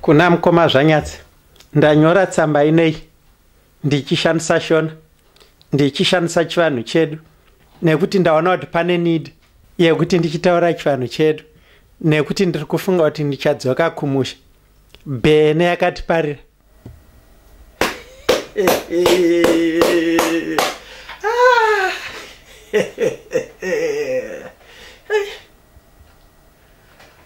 Kuna mkoma Zvanyatsi ndanyora tsamba inei ndichishandisa Shona ndichishandisa chivanhu chedu nekuti ndaona kuti pane need yekuti ndichitaura chivanhu chedu nekuti ndiri kufunga kuti ndichadzoka kumusha bhene yakatiparira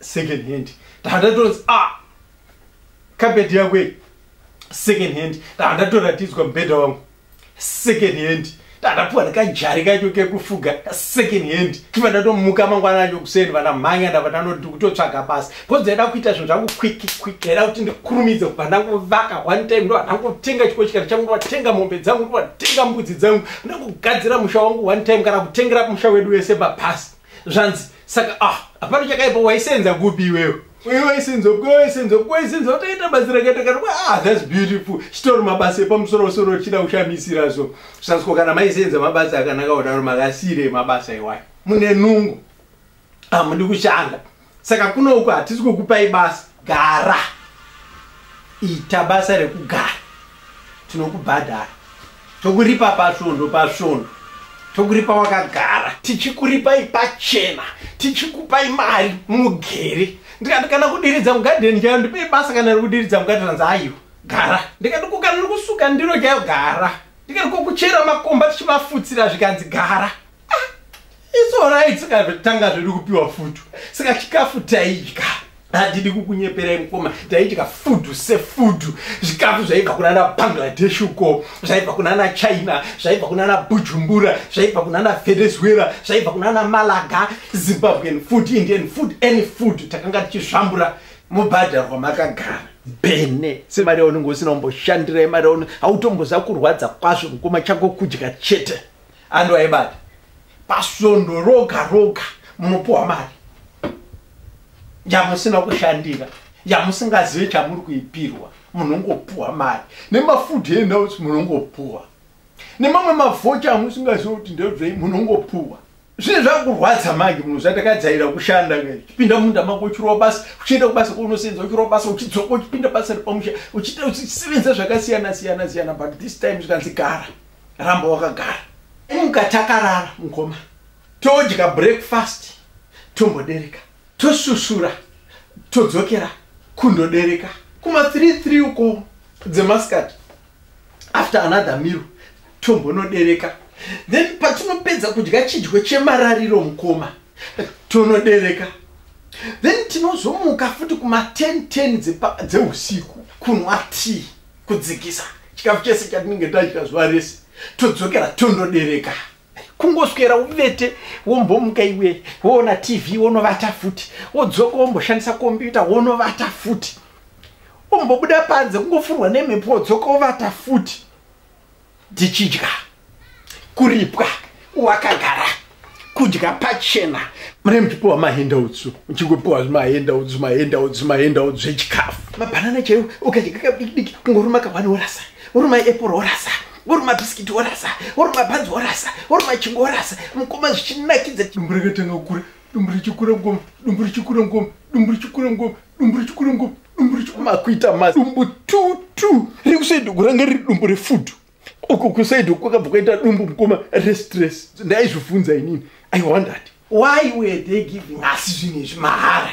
second hand ndaandatonzi a ah, kapeti yako iyi second hand ndaandatoratidzwa mubhedha wangu second hand ndaandapuwa ndikajari kacho kekufuga second hand chiva ndatomuka mangwana acho kuseni vana mhanya ndava ndanoti kutotsvaga basa bcause ndaida kuita zvinhu zvangu kwiki kwiki ndaida kuti ndikurumidze kubva ndanguvaka one time ndo ndangotenga chiko chikati changu ndovatenga mombe dzangu ndovatenga mbudzi dzangu ndangogadzira musha wangu one time kana kutengera musha wedu wese pabhasi zvanzi saka ah hapana chakaipa waisenza kupi iwewe uye waisenza kupi waisenza kupi waisenza wataita basa rakaita kana ah that's beautiful chitori mabasa epamusoro soro chida kushamisira so sasiko kana maisenza mabasa akanaka kudaro makasire mabasa iwayo mune nungu ah mundi kushanda saka kuno uko hatisi kukupai basa gara ita basa rekugara tinokubhadhara tokuripa pasvondo pasvondo tokuripa wakagara tichikuripai pachena tichikupai mari mugere ndikati kana kudiridza mugadheni chayo ndipei basa kana rikudiridza mugadheni anzi aiwa gara ndikati ko kana rikusuka ndiro chayo gara ndikati ko kuchera makomba tichimafutsira zvikanzi gara It's alright saka tanga zvedu kupiwa food. Saka chikafu taidya. Handidi kukunyeperai mukoma taidya food sefood zvikafu zvaibva kunana Bangladesh uko zvaibva kunana China zvaibva kunana Bujumbura zvaibva kunana Venezuela zvaibva kunana Malaga Zimbabwean food Indian food any food takanga tichizvambura mubhadharwa makagara bene semari yaunenge usina kumboshandira imari yaunenge hautomboza kurwadza kwazvo mukoma chako kudya chete Ando aibata. Pasondo roga roga munopuwa mari. Yamusina kushandira. Yamusingazive chamuri kuipirwa. Munongopuwa mari. Nemafood handouts munongopuwa. Nemamwe mavoucher amusingazive kuti ndezvei munongopuwa. Zvine zvakurwadza manje munhu zvatakadzaira kushanda uchipinda munda mako uchirova basa uchienda kubasa kwaunosenza uchirova basa uchidzoka uchipinda basa repamusha uchiita uchisevenza zvakasiyana siyana siyana but this time zvikanzi gara ramba wakagara muka takarara mukoma todya breakfast tombodereka tosusura todzokera kundodereka kuma 33 uko dzemasikati after another miro tombonodereka then patinopedza kudya chidyo chemarariro mukoma tonodereka then tinozomuka futi kuma 10 10 dzeusiku kunwa tea kudzikisa chikafu chese chatinenge tadya zuva rese todzokera tondodereka kungoswera uvete wombomuka iwe woona tv wonovata futi wodzoka womboshandisa kombyuta wonovata futi umbobuda panze kungofurwa nemhepo wodzoka wovata futi tichidya kuripwa wakagara kudya pachena mune muchipiwa mahendautsu muchingopiwa zvimahendautsu mahendautsu mahendautsu zvechikafu mabhanana chaiwo ukadya kabidikidiki kungoruma kawani worasa woruma apple worasa woruma bisikiti worasa woruma bhanzi worasa woruma chingo worasa mukoma zvichinakidza dumbu rakatanga kukura dumbu richikura ngoma dumbu richikura ngoma dumbu richikura ngoma dumbu rechikurungu dumbu rechimakuita ma dumbu tutu rekusaidi kuranga riri dumbu refudu uku kusaidi kwakabva kwaita dumbu mukoma restress ndaizvivhunza inini i wondered why were they giving us zvinhu izvi mahara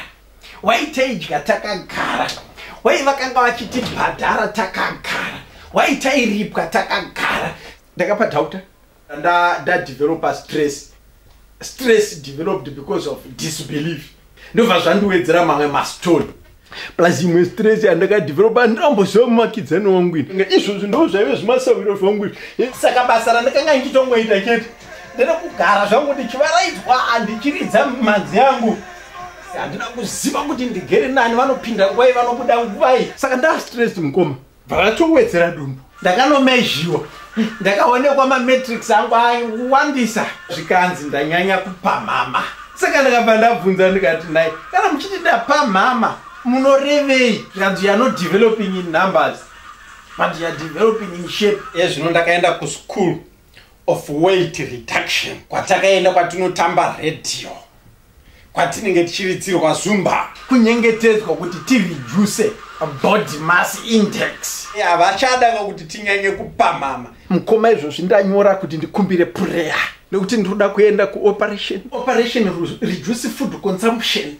why taidya takagara why vakanga vachitibhadhara takagara why tairipwa takagara ndakapa dauta nda nda developer stress stress developed because of disbelief ndobva zvandiwedzera mamwe mastone plus imwe stress yandakadevelopa ndoramboziva mumakidzani wangu ini izvozvi ndo zvaive zvimasawiro zvangu izvi saka basa randakanga ndichitongoita chete ndere kugara zvangu ndichivaraidzwa handichiridza manzi yangu handina kuziva kuti ndigere nani vanopinda nguvai vanobuda nguvai saka ndastress mukoma Vakatowedzera dumbu. Ndakanomezhiwa. Ndakaonekwa mametrics angu awandisa zvikanzi ndanyanya kupamhama. Saka ndakabva ndabvunza ndikati naye kana muchiti ndapamhama munorevei? Zvikanzi you are not developing in numbers but you are developing in shape. Ezvino ndakaenda kuschool of weight reduction kwatakaenda kwatinotamba radio. kwatinenge tichiritsirwa zumba kunyengetedzwa kuti tireduce body mass index havachada vakuti tinyanye kupamhama mukoma izvozvi ndanyora kuti ndikumbire pureya nekuti ndinoda kuenda kuoperation operation reduce food consumption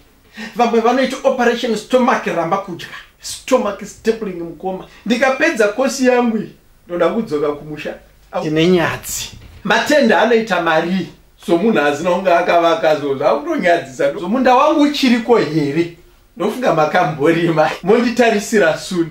vamwe vanoita operation stomach ramba kudya stomach stapling mukoma ndikapedza kosi yangu iyi ndoda kudzoka kumusha tine nyadzi matenda anoita marii somunhu asina kunge akavaka so zvakutonyadzisa so munda wangu uchiriko here ndofunga makamborima monditarisira suni